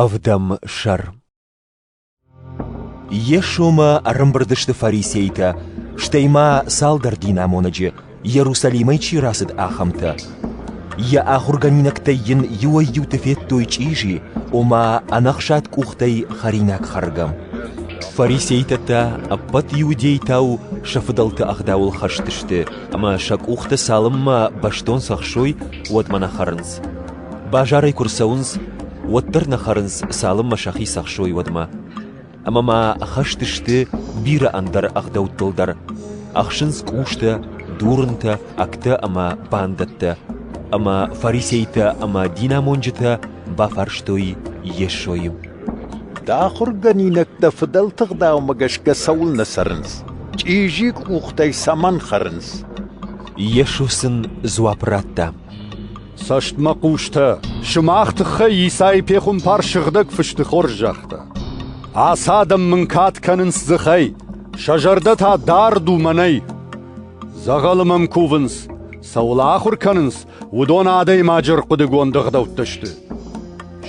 Ӕвдӕм сӕр Йесомӕ ӕрӕмбырд сты фарисейтӕ, стӕй ма цалдӕр динамонӕджы, Иерусалимӕй чи рацыд, ахӕмтӕ. Йӕ ахуыргӕнинӕгтӕй йын иуӕй-иуты федтой чъизи, ома ӕнӕхсад къухтӕй хӕринаг хӕргӕ. Фарисейтӕ та ӕппӕт иудейтау сӕ фыдӕлты ӕгъдауыл хӕст сты, ӕмӕ сӕ къухтӕ цалынмӕ бӕстон цӕхсой, уӕдмӕ нӕ хӕрынц. Базарӕй куы рцӕуынц, уӕддӕр нӕ хӕрынц, цалынмӕ сӕхи цӕхсой, уӕдмӕ. Ӕмӕ ма хӕст сты бирӕ ӕндӕр ӕгъдӕуттыл дӕр. Ӕхсынц къустӕ, дурынтӕ, агтӕ ӕмӕ бандӕттӕ, ӕмӕ фарисейтӕ ӕмӕ динамонджытӕ бафарстой Йесойы. Дӕ ахуыргӕнинӕгтӕ фыдӕлты ӕгъдаумӕ гӕсгӕ цӕуылнӕ цӕрынц? Чъизи къухтӕй цӕмӕн хӕрынц? Йесо сын дзуапп радта. Цӕстмӕ хъустӕ, сымах тыххӕй Исайы пехуымпар Сыгъдӕг Фысты хорз загъта. Ацы адӕм мын кад кӕнынц дзыхӕй, сӕ зӕрдӕ та дард у мӕнӕй. Дзӕгъӕлы мӕм кувынц, цӕуыл ахуыр кӕнынц, уыдон адӕймаджы рхъуыдыгонд ӕгъдӕуттӕ сты.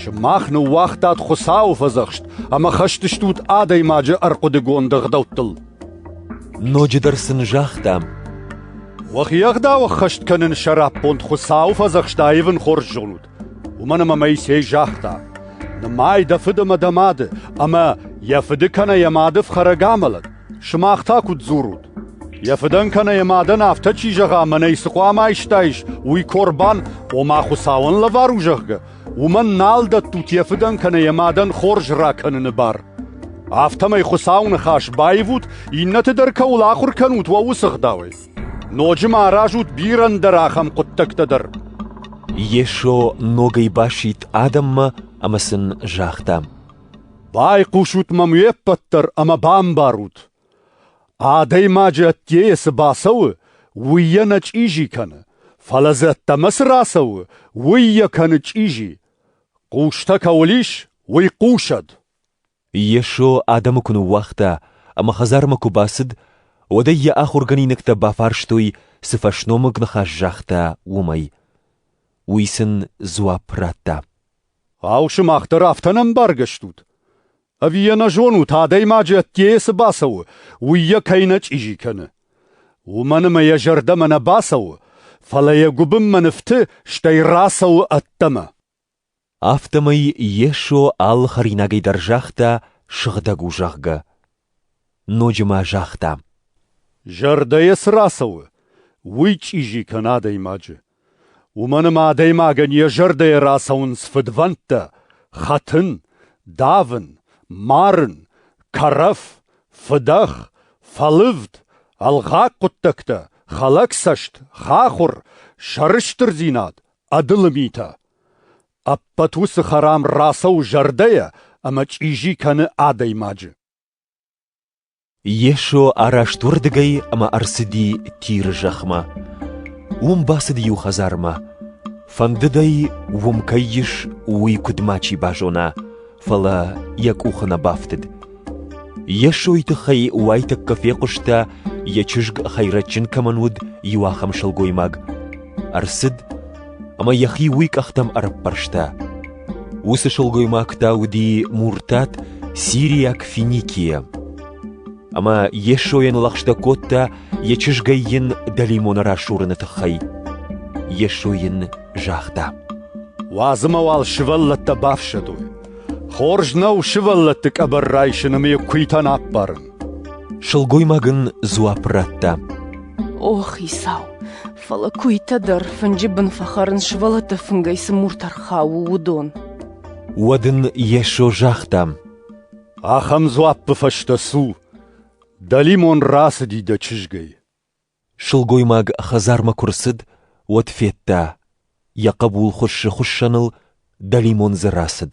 Сымах ныууагътат Хуыцауы фӕдзӕхст ӕмӕ хӕстыстут адӕймаджы ӕрхъуыдыгонд ӕгъдӕуттыл. Ноджыдӕр сын загътам: «Уӕхи ӕгъдау ӕххӕст кӕнын сӕраппонд Хуыцауы фӕдзӕхст аивын хорз зонут, уымӕн ӕмӕ Моисей загъта: «Нымай дӕ фыд ӕмӕ дӕ мады, ӕмӕ йӕ фыды кӕнӕ йӕ мады фхӕрӕг амӕлӕд. сымах та куыд дзурут? Йӕ фыдӕн кӕнӕ йӕ мадӕн афтӕ чи зӕгъа, мӕнӕй цы хъуамӕ айстаис, уый корбан, ома Хуыцауӕн лӕвар у, зӕгъгӕ, уымӕн нал дӕттут йӕ фыдӕн кӕнӕ йӕ мадӕн хорз ракӕныны бар. Афтӕмӕй Хуыцауы ныхас баивут, иннӕты дӕр кӕуыл ахуыр кӕнут, уӕ уыцы ӕгъдауӕй. Ноджы ма аразут бирӕ ӕндӕр ахӕм хъуыддӕгтӕ дӕр. Йесо ногӕй басидт адӕммӕ ӕмӕ сын загъта: «Байхъусут мӕм уе ппӕт дӕр ӕмӕ бамбарут, Адӕймаджы ӕддейӕ цы бацӕуы, уый йӕ нӕ чъизи кӕны, фӕлӕ дзы ӕддӕмӕ цы рацӕуы, уый йӕ кӕны чъизи. Хъустӕ кӕуыл ис, уый хъусӕд! Йесо адӕмы куы ныууагъта ӕмӕ хӕдзармӕ куы бацыд, уӕд ӕй йӕ ахуыргӕнинӕгтӕ бафарстой, цы фӕсномыг ныхас загъта, уымӕй. Уый сын дзуапп радта. — Ау, сымах дӕр афтӕ не мбаргӕ стут? Ӕви йӕ нӕ зонут, адӕймаджы ӕддейӕ цы бацӕуы, уый йӕ кӕй нӕ чъизи кӕны? Уымӕн ӕмӕ йӕ зӕрдӕмӕ нӕ бацӕуы, фӕлӕ йӕ гуыбынмӕ нывты, стӕй рацӕуы ӕддӕмӕ. Афтӕмӕй Йесо алы хӕринагӕй дӕр загъта, сыгъдӕг у, зӕгъгӕ. Ноджы ма загъта: Зӕрдӕйӕ цы рацӕуы, уый чъизи кӕны адӕймаджы. Уымӕн ӕмӕ адӕймагӕн йӕ зӕрдӕйӕ рацӕуынц фыдвӕндтӕ, хӕтын, давын, марын, кӕрӕф, фыдӕх, фӕлывд, ӕлгъаг хъуыддӕгтӕ, хӕлӕгцӕст, хахуыр, сӕрыстырдзинад, ӕдылы митӕ. Ӕппӕт уыцы хӕрам рацӕуы зӕрдӕйӕ ӕмӕ чъизи кӕны адӕймаджы. Йесо араст уырдыгӕй ӕмӕ ӕрцыди Тиры зӕхмӕ. Уым бацыд иу хӕдзармӕ. Фӕндыд ӕй, уым кӕй ис, уый куыдмӕ чи базона, фӕлӕ йӕ къухы нӕ бафтыд. Йесойы тыххӕй уайтӕккӕ фехъуыста, йӕ чызг хӕйрӕджджын кӕмӕн уыд, иу ахӕм сылгоймаг. Ӕрцыд ӕмӕ йӕхи уый къӕхтӕм ӕрӕппӕрста. Уыцы сылгоймаг та уыди Муртат сириаг Финикия. Ӕмӕ Йесойӕн лӕгъстӕ кодта, йӕ чызгӕй йын дӕлимоны расурыны тыххӕй. Йесо йын загъта: Уадзы мӕ уал сывӕллӕттӕ бафсӕдой. Хорз нӕу сывӕллӕтты къӕбӕр райсын ӕмӕ йӕ куыйтӕн аппарын. Сылгоймаг ын дзуапп радта: О, Хицау, Фӕлӕ куыйтӕ дӕр, фынджы бын фӕхӕрын сывӕллӕтты фынгӕй цы муртӕ рхауы, уыдон. Уӕд ын Йесо загъта: Ахӕм дзуаппы фӕстӕ цу. Дӕ лимон рацыди дӕ чызгӕй. Сылгоймаг хӕдзармӕ куы рцыд, уӕд федта, Йӕ хъӕбул хуыссы хуыссӕныл, дӕлимон дзы рацыд.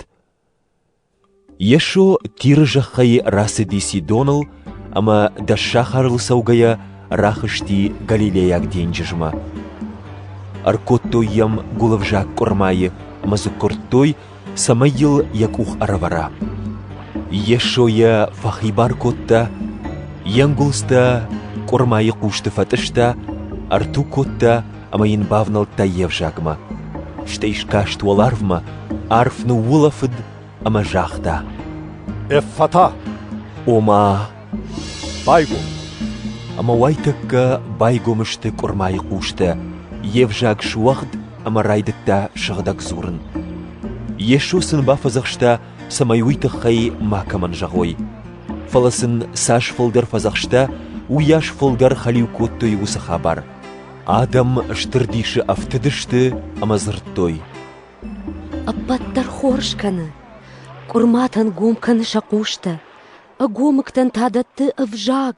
Йесо Тиры зӕххӕй рацыди Сидоныл ӕмӕ, дӕс сахарыл цӕугӕйӕ, рахызти Галилейаг денджызмӕ. Ӕркодтой йӕм гуылывзаг къуырмайы ӕмӕ дзы куырдтой, цӕмӕй йыл йӕ къух ӕрӕвӕра. Йесо йӕ фӕхибар кодта, йе нгуылдзтӕ къуырмайы хъусты фӕтъыста, ӕрту кодта ӕмӕ йын бавнӕлдта йе взагмӕ. Стӕй скаст уӕларвмӕ, арф ныуулӕфыд ӕмӕ загъта: «Эффата!» Ома, Байгом. Ӕмӕ уайтӕккӕ байгом сты къуырмайы хъустӕ, йе взаг суӕгъд ӕмӕ райдыдта сыгъдӕг дзурын. Йесо сын бафӕдзӕхста, цӕмӕй уый тыххӕй макӕмӕн зӕгъой. Фӕлӕ сын цас фылдӕр фӕдзӕхста, уыйас фылдӕр хӕлиу кодтой уыцы хабар. Адӕм стыр дисы ӕфтыдысты ӕмӕ дзырдтой. «Ӕппӕт дӕр хорз кӕны, къуырматӕн гом кӕны сӕ хъустӕ, Ӕгомыгтӕн та дӕтты ӕвзаг.